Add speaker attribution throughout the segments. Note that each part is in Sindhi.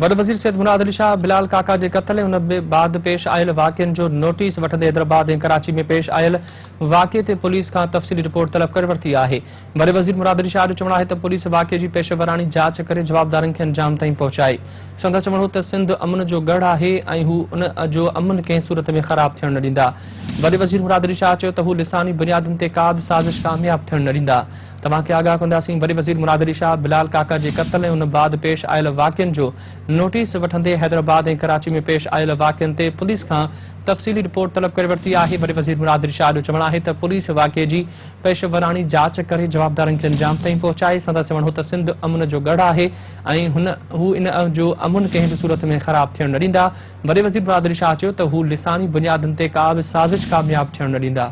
Speaker 1: وڏو وزير سيد مراد علي شاهه بلال ڪاڪا جي قتل ۽ ان بعد پيش آيل واقعن جو نوٽيس وٺندي حيدرآباد ۽ ڪراچي ۾ پيش آيل واقعي تي پوليس کان تفصيلي رپورٽ طلب ڪري ورتي آهي وڏي وزير مراد علي شاهه جو چوڻ آهي ته پوليس واقعي جي پيشيوراڻي جاچ ڪري جوابدارن کي انجام تائين پهچائي سندس چوڻ هو ته سنڌ امن جو ڳڙهه آهي ۽ هو ان جو امن ڪنهن صورت ۾ خراب ٿيڻ نه ڏيندا وڏي وزير مراد علي شاهه چيو ته هو لساني بنيادن تي ڪا به سازش ڪامياب ٿيڻ نه ڏيندا توهان کي آگاهه ڪنداسين، وڏي وزير مراد علي شاهه بلال ڪاڪڙ جي قتل ۽ ان بعد پيش آيل واقعن جو نوٽيس وٺندي حيدرآباد ۽ ڪراچي ۾ پيش آيل واقعن تي پوليس کان تفصيلي رپورٽ طلب ڪري ورتي آهي، وڏي وزير مراد علي شاهه جو چوڻ آهي ته پوليس واقعي جي پيشيوراڻي جاچ ڪري جوابدارن کي انجام تائين پهچائي، سندس چوڻ هو ته سنڌ امن جو ڳڙهه آهي ۽ هو ان جو امن ڪنهن به صورت ۾ خراب ٿيڻ نه ڏيندا، وڏي وزير مراد علي شاهه چيو ته هو لساني بنيادن تي ڪا به سازش ڪامياب ٿيڻ نه ڏيندا.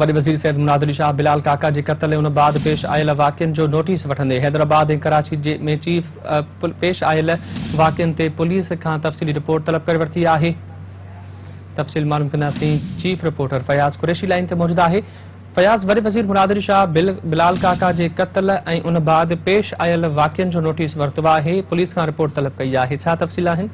Speaker 1: وڏي وزير سيد مناد علي شاهه بلال ڪاڪا جي قتل ۽ ان بعد پيش آيل واقعن جو نوٽيس وٺندي حيدرآباد ۽ ڪراچي ۾ چيف پيش آيل واقعن تي پوليس کان تفصيلي رپورٽ طلب ڪري ورتي آهي تفصيل معلوم ڪنداسين chief reporter Fayyaz Qureshi line تي موجود آهي فياض وڏي وزير مناد علي شاهه بلال ڪاڪا جي قتل ۽ ان بعد پيش آيل واقعن جو نوٽيس ورتو آهي پوليس کان رپورٽ طلب ڪئي آهي ڇا تفصيل آهن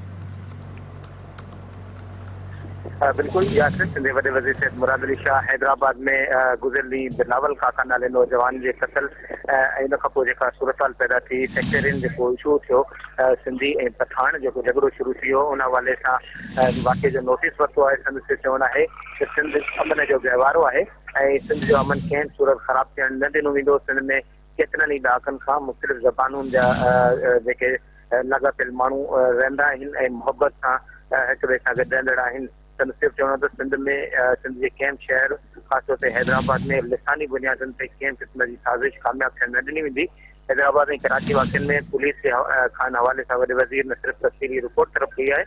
Speaker 2: بلڪل ياسر سنڌ جي وڏي وزير سيد مراد علي شاهه حيدرآباد ۾ گذريل ڏينهن بلاول ڪاڪا نالي نوجوان جي قتل ۽ ان کانپوء جيڪا صورتحال پيدا ٿي سيڪٽرين جيڪو اشو ٿيو سنڌي ۽ پٺاڻ جيڪو جهڳڙو شروع ٿي ويو ان حوالي سان واقعي جو نوٽيس ورتو آهي سندس جو چوڻ آهي ته سنڌ امن جو گهوارو آهي ۽ سنڌ جو امن ڪنهن صورت خراب ٿيڻ نه ڏنو ويندو سنڌ ۾ ڪيترن ئي ڏهاڪن کان مختلف زبانون جا جيڪي لاڳاپيل ماڻهو رهندا آهن ۽ محبت سان هڪ ٻئي سان گڏ رهندڙ آهن. سندس اهو چوڻ هو ته سنڌ ۾ سنڌ جي ڪنهن به شهر خاص طور تي حيدرآباد ۾ لساني بنيادن تي ڪنهن به قسم جي سازش ڪامياب ٿيڻ نه ڏني ويندي. حيدرآباد ۽ ڪراچي واقعن ۾ پوليس کان حوالي سان وڏي وزير نه صرف تفصيلي رپورٽ طلب ڪئي آهي،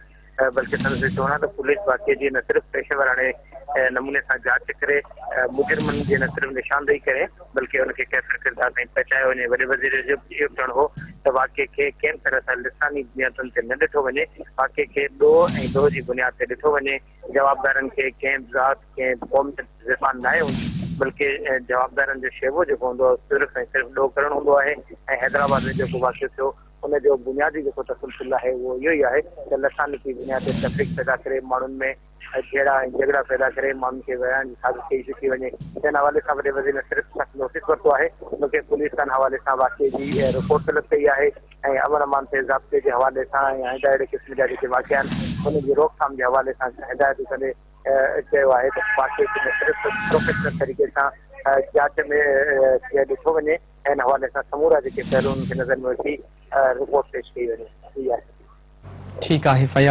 Speaker 2: بلڪه سندس چوڻ آهي ته پوليس واقعي جي نه صرف پيشيوراڻي نموني سان جاچ ڪري، مجرمن جي نه صرف نشاندهي ڪري بلڪه ان کي ڪيفر ڪردار تائين پهچايو وڃي. وڏي وزير جو اهو به چوڻ هو ته واقعي کي ڪنهن طرح سان لساني بنيادن تي نه ڏٺو وڃي، واقعي کي ڏوهه ۽ ڏوهه جي بنياد تي ڏٺو وڃي، جوابدارن کي ڪنهن به ذات، ڪنهن به قوميت جي زبان ناهي هوندي بلڪه جوابدارن جو شيوو جيڪو هوندو آهي اهو صرف ۽ صرف ڏوهه ڪرڻ هوندو آهي ۽ حيدرآباد ۾ جيڪو واقعو ٿيو ان جو بنيادي جيڪو تسلسل آهي اهو اهو ئي آهي ته لسانتي بنياد تي تفريق پيدا ڪري ماڻهن ۾ جهيڙا ۽ جهڳڙا پيدا ڪري ماڻهن کي ورهائڻ جي سازش ڪئي ٿي وڃي جنهن حوالي سان وڏي وزير نه صرف سخت نوٽيس ورتو آهي بلڪه پوليس تان حوالي سان واقعي جي رپورٽ طلب ڪئي آهي ۽ امن امان تي ضابطي جي حوالي سان ۽ آئنده اهڙي قسم جا جيڪي واقعا آهن انهن جي روڪٿام جي حوالي سان هدايتون ڪندي چيو آهي ته واقعي کي نه صرف پروفيشنل طريقي سان جاچ ۾ ڏٺو وڃي ان حوالي سان سمورا جيڪي پهلو انهن کي نظر ۾ وٺي رپورٽ پيش ڪئي وڃي.
Speaker 1: ٺيڪ
Speaker 2: آهي فياض.